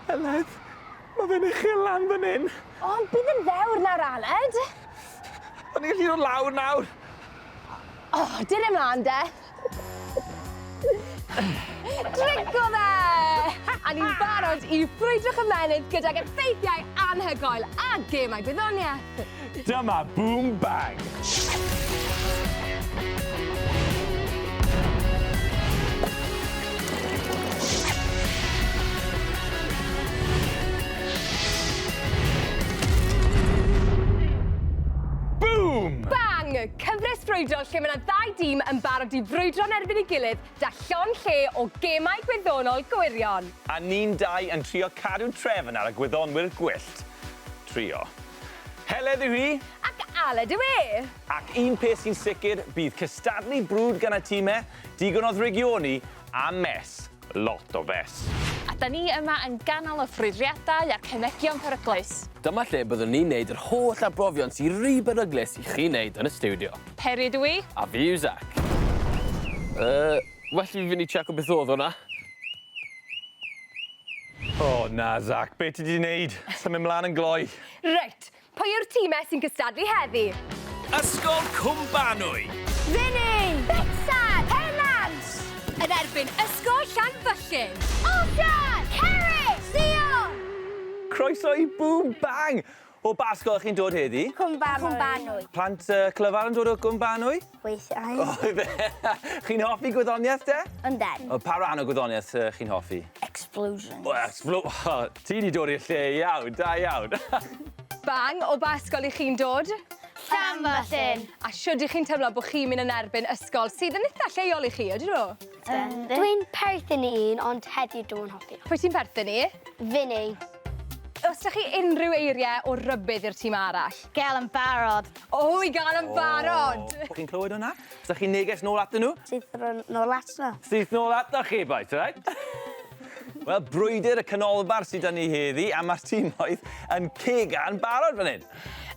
Aled, ma' fe'n uchel lan fan 'yn. O, bydd yn fewr nawr, Aled. O'n i'n gallu dod lawr nawr. O, dyn e mlan de. Drigo fe! A ni'n barod i ffrwydro'ch ymennydd gydag effeithiau anhygoel a gemau gwyddoniaeth. Dyma Boom Bang! Cyfres frwydro lle mae yna ddau dîm yn barod i frwydro yn erbyn ei gilydd da llon lle o gemau gwyddonol gwirion. A ni'n dau yn trio cadw trefn ar y gwyddonwyr gwyllt. Trio. Heledd yw hi. Ac Aled yw e. Ac un peth sy'n sicr, bydd cystadlu brwd gan y time, digon o ddrygioni, a mess. Lot o fess. A 'da ni yma yn ganol y ffrwydriadau a'r cemegion peryglus. Dyma lle byddwn ni'n neud yr holl arbrofion sy ry beryglus i chi neud yn y stiwdio. Peri ydw i. A fi yw Zac. Yy, well i fi fynd i tseco beth odd hwnna. O na Zach, be ti 'di neud? Symud mlan yn gloi. Reit, pwy yw'r tîm e sy'n cystadlu heddi? Ysgol Cwmbanwy. Vinny! Betsan! Pennant! Yn erbyn Ysgol Llanfyllin. Oscar! Cerys! Sion! Croeso i Boom Bang! O ba ysgol 'ych chi'n dod heddi? Cwm Banwy. Cwm Banwy. Plant yy clyfar yn dod o Gwm Banwy? Weithiau. O ife? Chi'n hoffi gwyddonieth de? Ynden. O pa ran o gwyddonieth yy chi'n hoffi? Explosions. O explo- o ti 'di dod i'r lle iawn, da iawn. Bang, o ba ysgol 'ych chi'n dod? Llanfyllin. A shwd 'ych chi'n teimlo bo' chi'n myn' yn erbyn ysgol sydd yn itha lleol i chi, odi nhw? Dwi'n perthyn i un ond heddiw dwi'm yn hoffi o. Pwy ti'n perthyn i? Finny. Os da chi unrhyw eirie o rybudd i'r tîm arall? Gael yn barod. O i gael yn barod! O! Chi'n clywed hwnna? Os da chi'n neges nôl atyn nhw? Syth nôl ato nhw. Syth nôl ato chi bois, alright? Wel, brwydr y canolbarth sydd da ni heddi a ma'r tîmoedd yn cega'n barod fan hyn.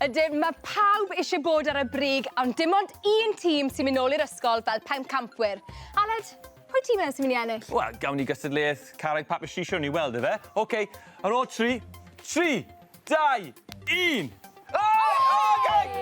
Ydyn, mae pawb eisiau bod ar y brig, ond dim ond un tîm sy'n mynd nôl i'r ysgol fel pencampwyr. Aled, pwy ti'n meddwl sy'n mynd i ennill? Wel, gawn ni gystadleuaeth carreg papur sisio ni weld efe. OK, ar ôl tri, tri, dau, un! O!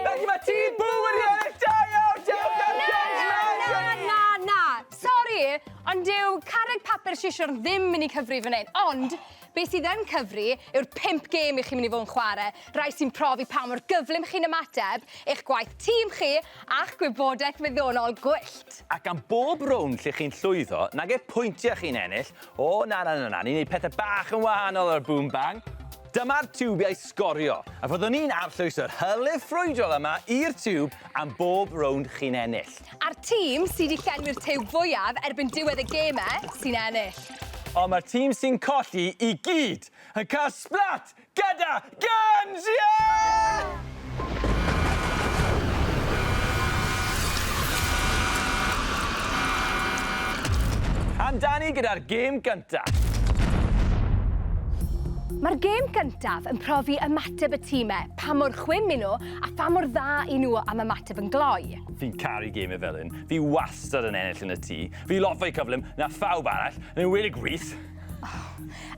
Felly mae tîm Bŵ wedi ennill! Da iawn! Da iawn! Da iawn! Na, na, na, na! Sori, ond dyw carreg papur sisio'r ddim mynd i cyfri fan hyn. Ond, Be sydd yn cyfri yw'r pump gêm i chi'n mynd i fod yn chwarae, rhai sy'n profi pa mor gyflym chi'n ymateb, eich gwaith tîm chi, a'ch gwybodaeth wyddonol gwyllt. Ac am bob rownd lle chi'n llwyddo, nag yw pwyntiau chi'n ennill, o na na na na, ni'n neud pethe bach yn wahanol ar Boom Bang. Dyma'r tiwbiau sgorio, a fyddwn ni'n arllwys yr hylif ffrwydrol yma i'r tiwb am bob rownd chi'n ennill. A'r tîm sy' 'di llenwi'r tiwb fwyaf erbyn diwedd y geme sy'n ennill. Ond mae'r tîm sy'n colli i gyd yn cael splat gyda Guns! Ie! Amdani gyda'r gêm gyntaf. Mae'r gêm gyntaf yn profi ymateb y time, pa mor chwim 'yn nhw a pha mor dda 'yn nhw am ymateb yn gloi. Fi'n caru gemau fel hyn. Fi wastad yn ennill yn y tŷ. Fi lot fwy cyflym na phawb arall, yn enwedig Rhys. Oh.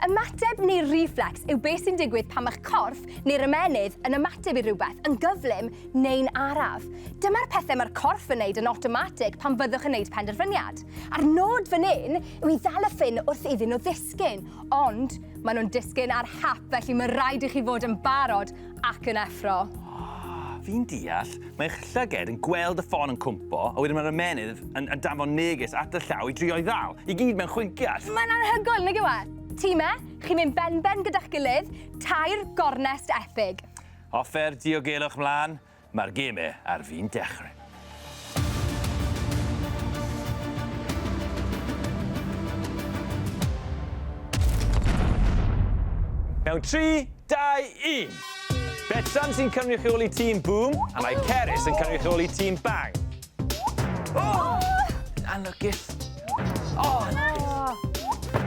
Ymateb neu reflex yw beth sy'n digwydd pan mae'ch corff neu'r ymennydd yn ymateb i rhywbeth, yn gyflym neu'n araf. Dyma'r pethau mae'r corff yn neud yn automatic pan fyddwch yn neud penderfyniad. A'r nod fan hyn yw i ddal y ffyn wrth iddyn nhw ddisgyn, ond maen nhw'n disgyn ar hap, felly mae rhaid i chi fod yn barod Ac yn effro. Ah, fi'n deall. Mae eich llyged yn gweld y ffon yn cwmpo, a wedyn mae'r ymenydd yn, yn danfon neges at y llaw i drio i ddal. I gyd mewn chwinciad. Mae'n anhygoel, nag yw e? Ti me, chi'n mynd ben-ben gyda'ch gilydd, tair gornest epig. Offer diogelwch mlaen, Mae'r geme ar fin dechrau. Mewn 3, 2, 1! Betsan sy'n cynrychioli tîm Boom a mae Cerys yn cynrychioli tîm Bang. O! Anlwcus. O!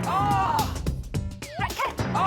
O! Reit, Cerys! O!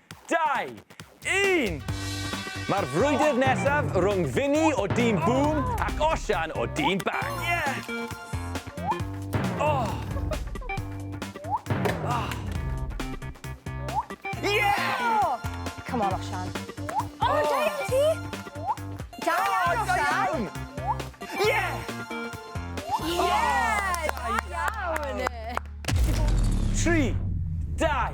Dau! Un! Mae'r frwydr nesaf rhwng Vinny o Dîm Boom ac Osian o Dîm Bang. Come on, Osian. O, da iawn ti! Da iawn, Osian! Ie! Da iawn! Tri, dau,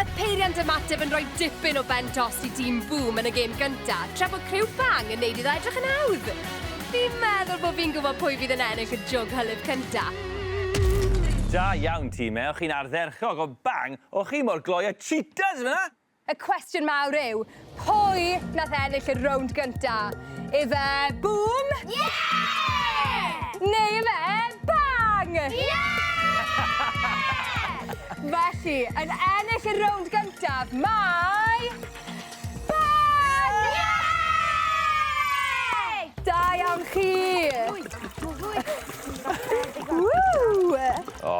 Y peiriant ymateb yn rhoi dipyn o bent os i dîm Boom yn y gêm gyntaf, tra bod criw Bang yn neud iddo edrych yn hawdd. Fi'n meddwl bod fi'n gwybod pwy fydd yn ennill y jwg hylif cyntaf. Da iawn, time. O'ch chi'n ardderchog, ond Bang, o'ch chi mor gloi â cheetahs fyna! Y cwestiwn mawr yw, pwy nath ennill y rownd gynta? Ife Bŵm? Ie! Neu ife Bang? Ie! Felly, yn ennill y rownd gyntaf, mae... Bang! Ie! Da iawn chi! Ww! O,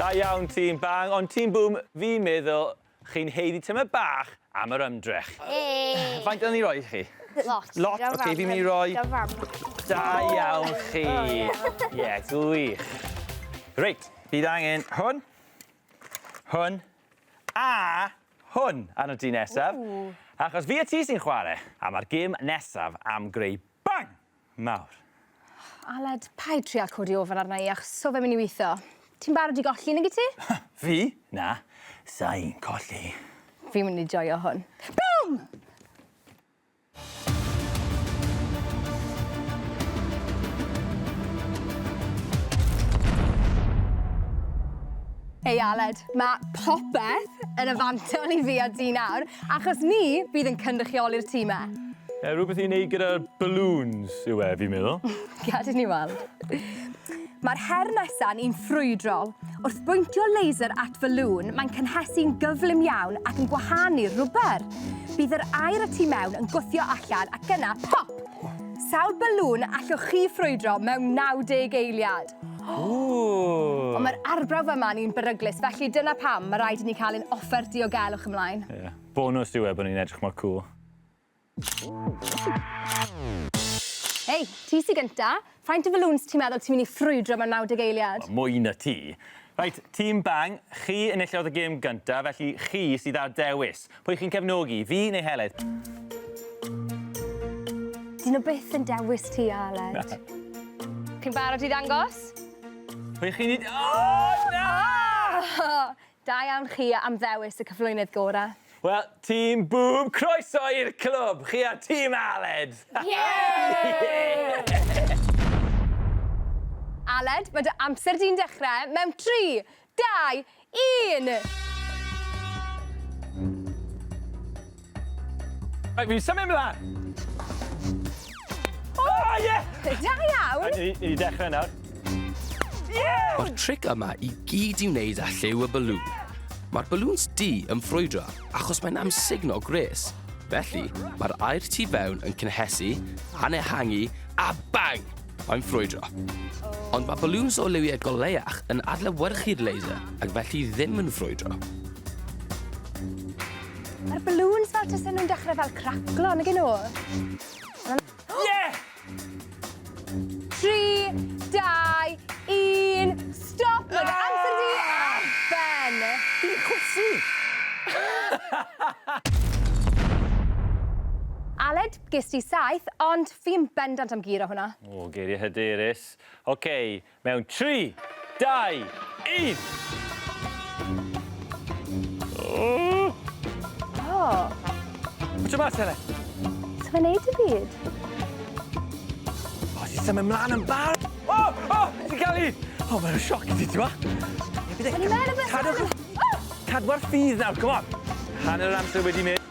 da iawn tîm Bang, ond tîm Bŵm, fi'n meddwl Chi'n haeddu tymor bach am yr ymdrech. Hei! Faint o'n i roi chi? Lot. Lot? Oce, fi'n mynd i roi... Da fam. Da iawn chi. Ie, gwych. Reit, bydd angen hwn, hwn, a hwn arno ti nesaf. Achos fi a ti sy'n chwarae, a mae'r gêm nesaf am greu bang! Nawr. Aled, paid trial codi ofon arna i achos so fe'n myn' i witho. Ti'n barod i golli nag wyt ti? Fi? Na, sai'n colli. Fi'n myn' i joio hwn. Bûm! Hei Aled, ma' popeth yn y fantol i fi a ti nawr, achos ni fydd yn cynrychioli'r tîm 'ma. Yy rhywbeth i wneud gyda'r balloons yw e, fi'n meddwl. Gad i ni weld. Mae'r her nesa'n un ffrwydrol. Wrth bwyntio laser at falŵn, mae'n cynhesu'n gyflym iawn ac yn gwahanu'r rwber. Bydd yr aer y tu mewn yn gwthio allan ac yna, pop! Sawl balŵn allwch chi ffrwydro mewn 90 eiliad? Ooh! Ond mae'r arbrawf yma yn un beryglus, felly dyna pam mae rhaid i ni cael ein offer diogelwch ymlaen. Ie. Yeah. Bonws yw e bod ni'n edrych mor cool. Hei, ti sy gynta. Faint o faloons ti'n meddwl ti'n mynd i ffrwydro mewn 90 eiliad? Wel, mwy na ti. Reit, tîm Bang, chi enillodd y gêm gynta, felly chi sydd â'r dewis. Pwy chi'n cefnogi, fi neu Heledd? Dyn nhw byth yn dewis ti, Aled. Chi'n barod i ddangos? Pwy chi'n... O, na! Da iawn chi am ddewis y cyflwynydd gorau. Wel, Tîm Bŵm, croeso i'r clwb! Chi a'r Tîm Aled! Aled, mae dy amser di'n dechrau mewn tri, dau, un! Rhaid fi'n symud mlaen! O, ie! Da iawn! Ni wedi dechrau nawr. Mae'r tric yma i gyd i wneud â lliw y balŵn. Mae'r balŵns du yn ffrwydro achos mae'n amsugno gwres. Felly, mae'r aer tu fewn yn cynhesu, anehangu, a bang! Mae'n ffrwydro. Ond mae balŵns o liwiau goleach yn adlewyrchu'r laser ac felly ddim yn ffrwydro. Mae'r balŵns fel tasen nhw'n dechrau fel craclo, nag nhw? Ie! 3, 2, 1, stop! Mae'n amser di ar ben! Di chwysu! Aled, Ges ti saith, ond fi'n bendant am guro hwnna. O, geiriau hyderus. OK, mewn 3, 2, 1! O! Bwyta mas, Helen! Sa fe'n neud i byd? O, ti'n symud mlaen yn barod! O! O! Ti'n cael i! O, mae'n sioc i ti, ti'n ma? O'n i'n meddwl bod... Cadwch... Cadw'r ffydd nawr, come on! Hanner yr amser wedi mynd.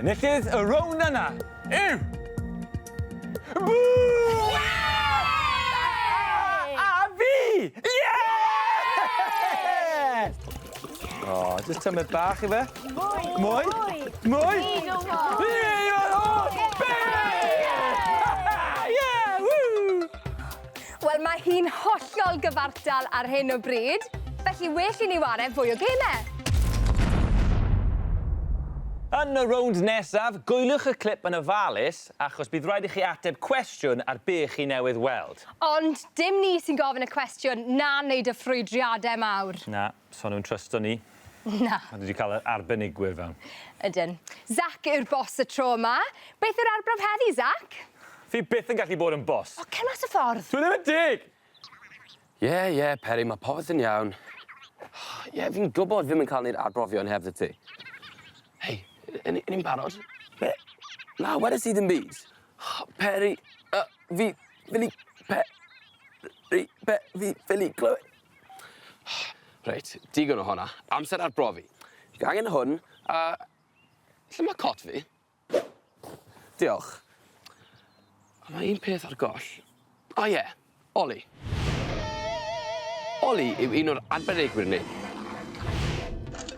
Enillydd y rownd yna yw... Bŵ! A fi! Ie! O, jyst tymed bach ife? Mwy! Mwy! Mwy! Fi yw'r hoff beth! Ie! Ww! Wel, mae hi'n hollol gyfartal ar hyn o bryd, felly well i ni ware fwy o gemau! Yn y rownd nesaf, gwyliwch y clip yn ofalus, achos bydd rhaid i chi ateb cwestiwn ar be chi newydd weld. Ond dim ni sy'n gofyn y cwestiwn, na wneud y ffrwydriadau mawr. Na. So nhw'n trysto ni? Na. A dwi 'di ca'l y arbenigwyr fewn. Ydyn. Zac yw'r boss y tro yma. Beth yw'r arbrawf heddi, Zac? Fi byth yn gallu bod yn boss. O, cer mas y ffordd! Dwi ddim yn deg! Ie, ie, Peri, ma' popeth yn iawn. Ie, fi'n gwbod fi'm yn ca'l neud arbrofion heb 'tha ti. Hei, 'yn ni 'yn ni'n barod? Be? Na, wedes i ddim byd. O, Peri, yy, fi ffili pe- ri- be- fi ffili clywed. Reit, digon o honna. Amser arbrofi. Gangen hwn, a lle ma' cot fi? Diolch. On' ma' un peth ar goll. O ie, Oli. Oli yw un o'r arbenigwyr ni.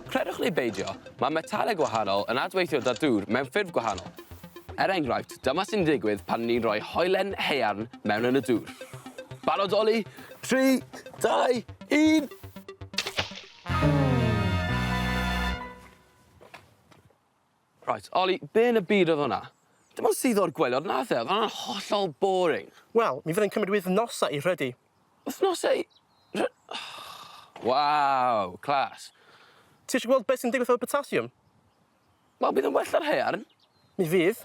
Credwch neu beidio, ma' metale gwahanol yn adweithio 'da dŵr mewn ffyrdd gwahanol. Er enghraifft, dyma sy'n digwydd pan ni'n rhoi hoelen haearn mewn yn y dŵr. Barod, Oli? 3, 2, 1! Reit, Oli, be yn y byd oedd hwnna? Dim ond suddo o'r gwelod nath e, oedd hwnna'n hollol boring. Wel, mi fydd yn cymryd wythnosau i rhydu. Wythnosau? Rhy- Waw, class. Ti eisiau gweld beth sy'n digwydd efo'r potassium? Wel bydd yn well na'r haearn. Mi fydd.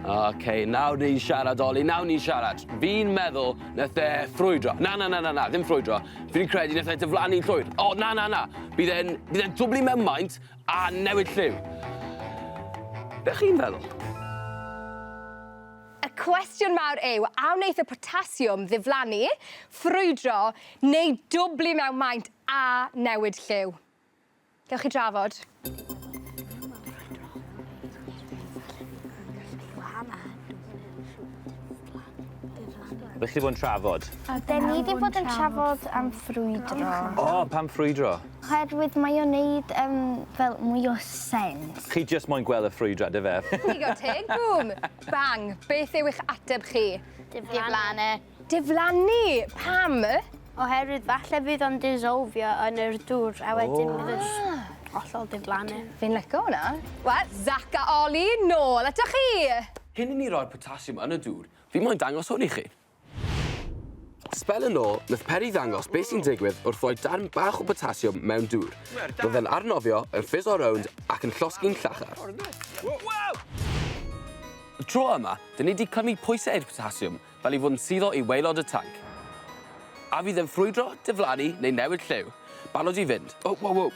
Ok, nawr ni'n siarad, Oli, nawr ni'n siarad. Fi'n meddwl nath e ffrwydro. Na, na, na, na, na, ddim ffrwydro. Fi'n credu nath e diflannu'n llwyr. O, na, na, na. Bydd e'n bydd e'n dwbli mewn maint a newid lliw. Be chi'n feddwl? Y cwestiwn mawr yw, a wneith y potasiwm ddiflannu, ffrwydro, neu dwbli mewn maint a newid lliw? Gewch chi drafod. Ydych chi wedi bod yn trafod? Da ni wedi bod yn trafod am ffrwydro. O, pam ffrwydro? Oherwydd mae o'n neud um, fel mwy o sens. Chi just moyn gweld y ffrwydrad, efe? Digon teg, bŵm! Bang! Beth yw eich ateb chi? Diflannu. Diflannu! Pam? Oherwydd falle fydd o'n dissolfio yn yr dŵr a wedyn bydd y sh- ah! hollol diflannu. Fi'n lico hwnna. Wel, Zac a Oli, nôl atoch chi! Cyn i ni roi'r potassium yn y dŵr, fi moyn dangos hwn i chi. Sbel yn ôl, nath Peri ddangos beth sy'n digwydd wrth roi darn bach o potassium mewn dŵr. Roedd e'n arnofio, yn ffiso rownd ac yn llosgi'n llachar. Wow! Y tro yma, dyn ni 'di clymu pwysau i'r potassium, fel i fod yn suddo i waelod y tanc. A fydd e'n ffrwydro, diflannu neu newid lliw? Barod i fynd. O, wow, wow.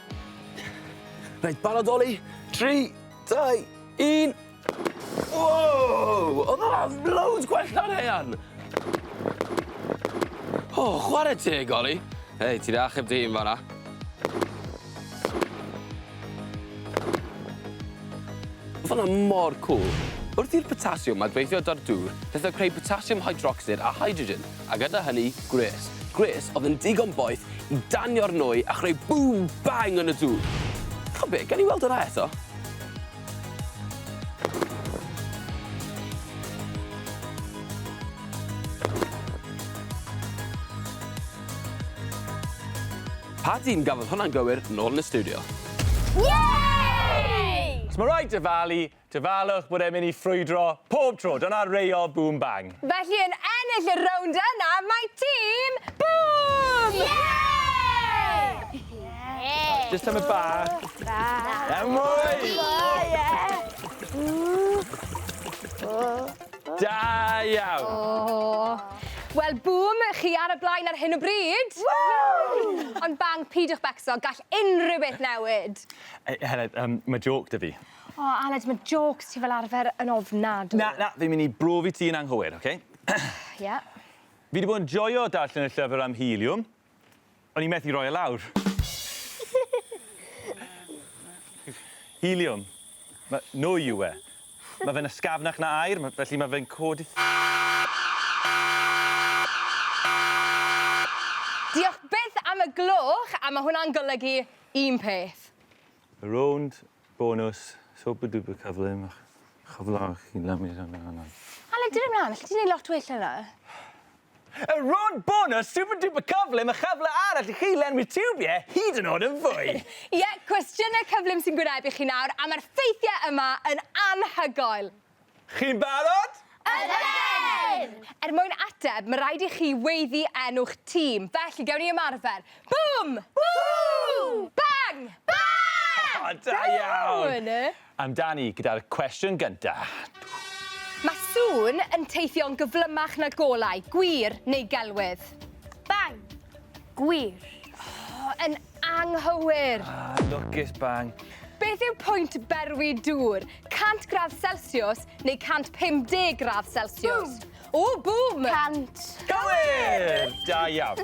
Reit, barod oli. 3, 2, 1. Wow! Oedd hwnna'n loads gwell na'n hean! O, oh, chwarae teg, Oli. Hei, ti'n achub dy hun fanna. Mae hwnna mor cwl! Wrth i'r potasiwm adweithio da'r dŵr, daeth o creu potasiwm hydrocsid a hydrogen, a gyda hynny, gwres. Gwres oedd yn digon boeth i danio'r nwy a chreu bŵm bang yn y dŵr! Ta be, gawn ni weld hwnna eto? Pa dîm gafodd hwnna'n gywir nôl yn y stiwdio? Yay! Os mae rhaid dyfalu, dyfalwch bod e'n mynd i ffrwydro pob tro, dyna reol Bŵm Bang! Felly yn ennill y rownd yna mae tîm Bŵm! Yay! Jyst tamaid bach. Bach. Iawn mwy! Mwy ie! Ww. O. Da iawn! O! Wel, bûm, chi ar y blaen ar hyn o bryd! Ww! Ond bang, peidiwch becso, gall unrhyw beth newid! E, Heledd, um, mae joc da fi. O, Aled, mae jocs ti fel arfer yn ofnadw. Na, na, fi'n mynd i brofi ti yn anghywir, oce? Okay? Ie. Yeah. Fi wedi bod yn joio darllen y llyfr am helium, O'n i methu roi e lawr. Helium. Ma' nwy yw e. Ma' fe'n ysgafnach na aer ma' felly ma' fe'n codi... Diolch byth am y gloch a ma' hwnna'n golygu un peth. Rownd bonws super duper cyflym a chyflawch chi lamio hwn lan nawr. Aled dyn ni mlan allet ti neud lot well na na. Y rownd bonws super duper cyflym a chyfle arall i chi lenwi tiwbie hyd yn o'd yn fwy. Ie cwestiyne cyflym sy'n gwynebu chi nawr a ma'r ffeithie yma yn anhygoel. Chi'n barod? Ydyn! Er mwyn ateb, mae rhaid i chi weiddi enw'ch tîm, felly gewn ni ymarfer. Bŵm! Bŵm! Bang! Bang! O, da iawn! Amdani gyda'r cwestiwn gyntaf. Mae sŵn yn teithio'n gyflymach na golau, gwir neu gelwydd? Bang! Gwir. Oh, yn anghywir! Ah, lwcus bang. Beth yw pwynt berwi dŵr? 100 gradd Celsius neu 150 gradd Celsius? Bŵm! O, bŵm! 100. Gywir! Da iawn.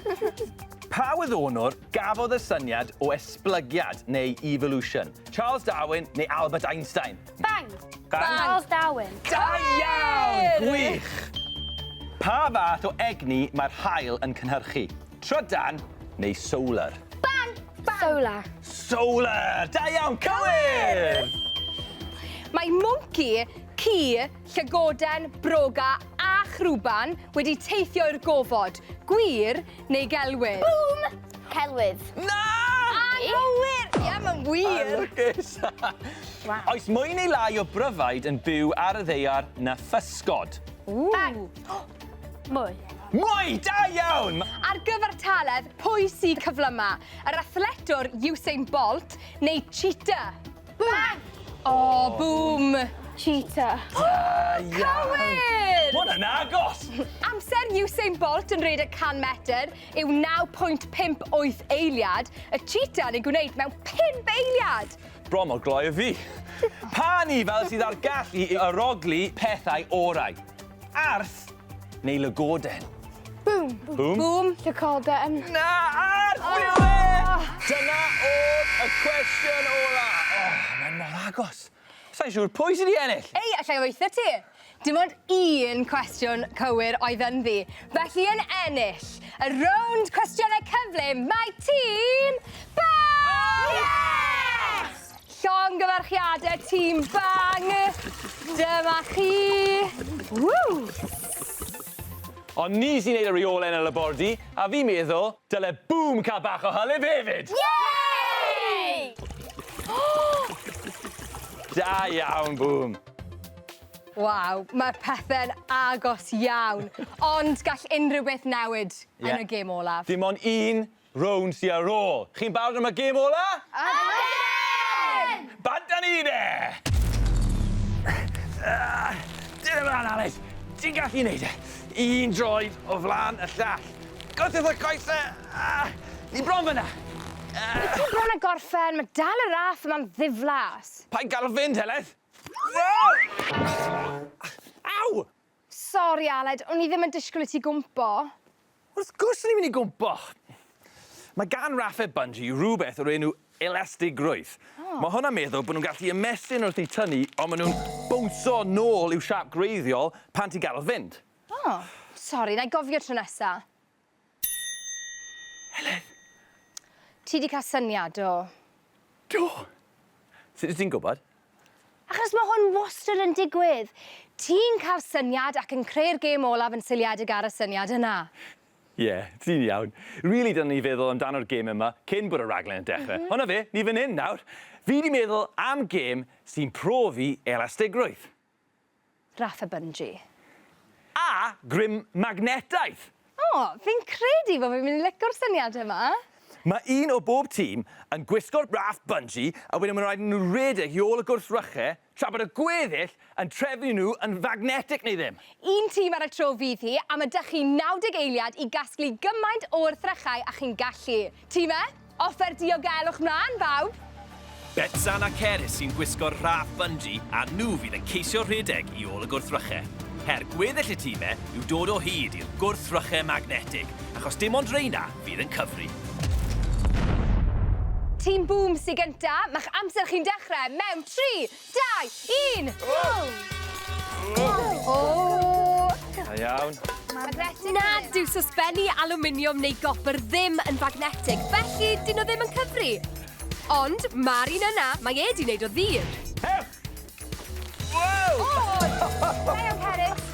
Pa wyddonwr gafodd y syniad o esblygiad neu evolution? Charles Darwin neu Albert Einstein? Bang! Bang! Charles Darwin. Da iawn! Gwych! Pa fath o egni mae'r haul yn cynhyrchu? Trydan neu solar? Bang! Bang! Solar. Solar! Da iawn! Cywir! Mae mwnci, ci, llygoden, broga a chrwban wedi teithio i'r gofod. Gwir neu gelwydd? Bŵm! Celwydd. Na! Anghywir! Ie, mae'n wir! A lwcus! Waw. Oes mwy neu lai o bryfaid yn byw ar y ddeiar na physgod? Ww! Mwy. Mwy! Da iawn! Ar gyfartaledd, pwy sy'n cyflyma? Yr athletwr Usain Bolt neu cheetah? Bang! O, bŵm! Cheetah. O! Cywir! Ma' hwnna'n agos! Amser Usain Bolt yn redeg 100 metr yw 9.58 eiliad, y cheetah yn ei gwneud mewn pump eiliad! Bron mor gloi â fi. Pa un fel sydd â'r gallu i arogli pethau orau? Arth? neu lygoden? Bŵm! Bŵm? Bŵm! Llygoden. Na! Ar ôl e! Dyna oedd y cwestiwn ola. O, mae mor agos. Sa'n siŵr pwy sydd wedi ennill. Ei, allai weithio ti. Dim ond un cwestiwn cywir oedd ynddi. Felly yn ennill y rownd cwestiynau cyflym mae tîm Bam! Yes! Llongyfarchiade tîm Bang! Dyma chi! Ww! Ond ni sy'n neud y reole yn y labordy, a fi'n meddwl, dyle Boom cael bach o hylif hefyd! Yay! Da iawn, Boom! Waw, mae'r pethe'n agos iawn, ond gall unrhyw beth newid yn y gêm olaf. Dim ond un rownd sy ar ôl. Chi'n barod am y gêm ola? Ydyn! Bant â ni de! Dyna mlaen, Aled. Ti'n gallu neud e. Un droed o flan y llall. Gollwng y coese! Ni bron fyna! Wyt ti bron a gorffen? Mae dal y raff yma'n ddiflas. Paid galw fi'n Heledd! Aw! Sori, Aled, o'n i ddim yn disgwyl i ti gwmpo. Wrth gwrs o'n i'n mynd i gwmpo! Mae gan Rafe Bungy rhywbeth o'r enw elastigrwydd. Oh. Mae hwn am meddwl bod nhw'n gallu ymestyn wrth i tynnu, ond maen nhw'n bownsio nôl i'w siap gwreiddiol pan ti'n gadael fynd. Oh, sori, na i gofio tro nesa. Helen! Ti 'di cael syniad, do? Do! Sut wyt ti'n gwybod? Achos mae hwn wastad yn digwydd. Ti'n cael syniad ac yn creu'r gêm olaf yn seiliedig ar y syniad yna. Ie, yeah, ti'n iawn. Rili, dylen ni feddwl amdano'r gêm yma cyn bod y rhaglen yn dechrau. Mm -hmm. Ond na fe, ni fan hyn nawr. Fi 'di meddwl am gêm sy'n profi elastigrwydd. Raff a Bunji. A grym magnetaidd! O, fi'n credu fo fi'n mynd i lico'r syniad yma! Mae un o bob tîm yn gwisgo'r Raff Bunji a wedyn mae'n rhaid i nhw redeg i ôl y gwrthryche tra bod y gweddill yn trefnu nhw yn fagnetig neu ddim. Un tîm ar y tro fydd hi, a ma' 'da chi 90 eiliad i gasglu gymaint o wrthrychau a chi'n gallu. Ti 'ma? Offer diogelwch mlan, bawb! Betsan a Cerys sy'n gwisgo'r rhaff bungee a nhw fydd yn ceisio rhedeg i ôl y gwrthryche. Her gweddill y time yw dod o hyd i'r gwrthryche magnetig, achos dim ond reina fydd yn cyfri. Tîm Bŵm sy gynta, ma'ch amser chi'n dechrau mewn tri, Dau, un, go! Oh! Oh! Da iawn. Magnetic. Na, dyw sosbenni alwminiwm neu gopr ddim yn fagnetig, felly dyn nhw ddim yn cyfri. Ond ma'r un yna, mae e 'di neud o ddur. Hep! Wow! Oh! Da iawn, Cerys.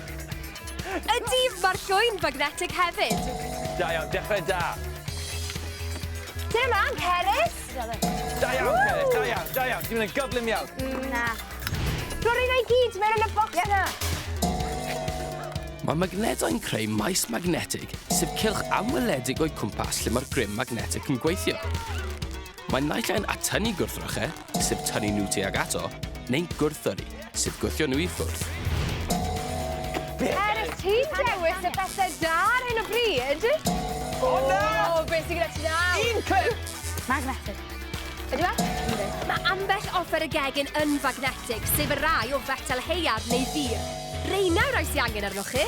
Ydy, mae'r llwy'n fagnetig hefyd. Da iawn, dechrau da. Tira mlaen, Cerys! Da iawn, Cerys, da iawn, da iawn. Ti'n mynd yn gyflym iawn. Mm, na. Rwy'n rhaid ei gyd mewn yn y bocs yna. Mae magnetau yn creu maes magnetig, sef cylch anweledig o'i cwmpas lle mae'r grym magnetic yn gweithio. Mae naill ai'n atynnu gwrthrychau, sef tynnu nhw tuag ato, neu'n gwrthyrru, sydd gwthio nhw i ffwrdd. Er ys ti'n dewis y pethau da ar hyn o bryd... O na! O, beth sy'n gyda ti nawr? Un clip! Magnetic. Ydy e? Ynddi. Mae ambell offer y gegin yn fagnetig, sef y rai o fetel heiaf neu ddur. Reina yw'r rai sy'n angen arnoch chi.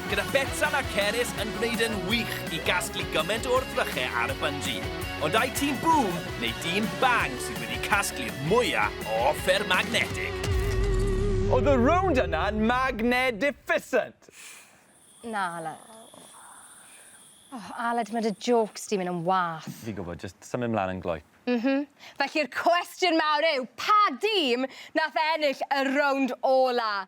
gyda Betsan a Cerys yn gwneud yn wych i gasglu gymaint o wrthryche ar y bynji. Ond ai tîm Boom neu dîm Bang sydd wedi casglu'r mwya' o offer magnetig? Oedd y rownd yna'n magnedificent? Na, Aled. O, Aled, ma' dy jôcs di'n mynd yn wath. Fi'n gwybod, jyst symud mlan yn gloyp. M-hm. Felly'r cwestiwn mawr yw, pa dîm nath ennill y rownd ola?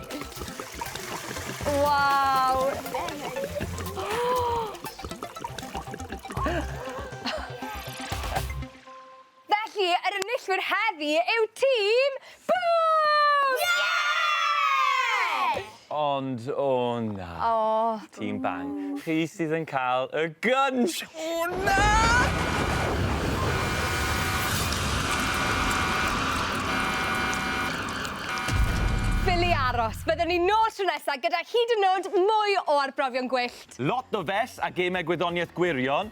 Waw! Felly, yr enillwyr heddi yw tîm Bŵm! Ie! Ond, o na. O. Tîm Bang. Chi sydd yn cael y gynsh! O na! Ffili aros. Bydden ni nôl tro nesa gyda hyd yn nod mwy o arbrofion gwyllt. Lot o fess a gemau gwyddoniaeth gwirion.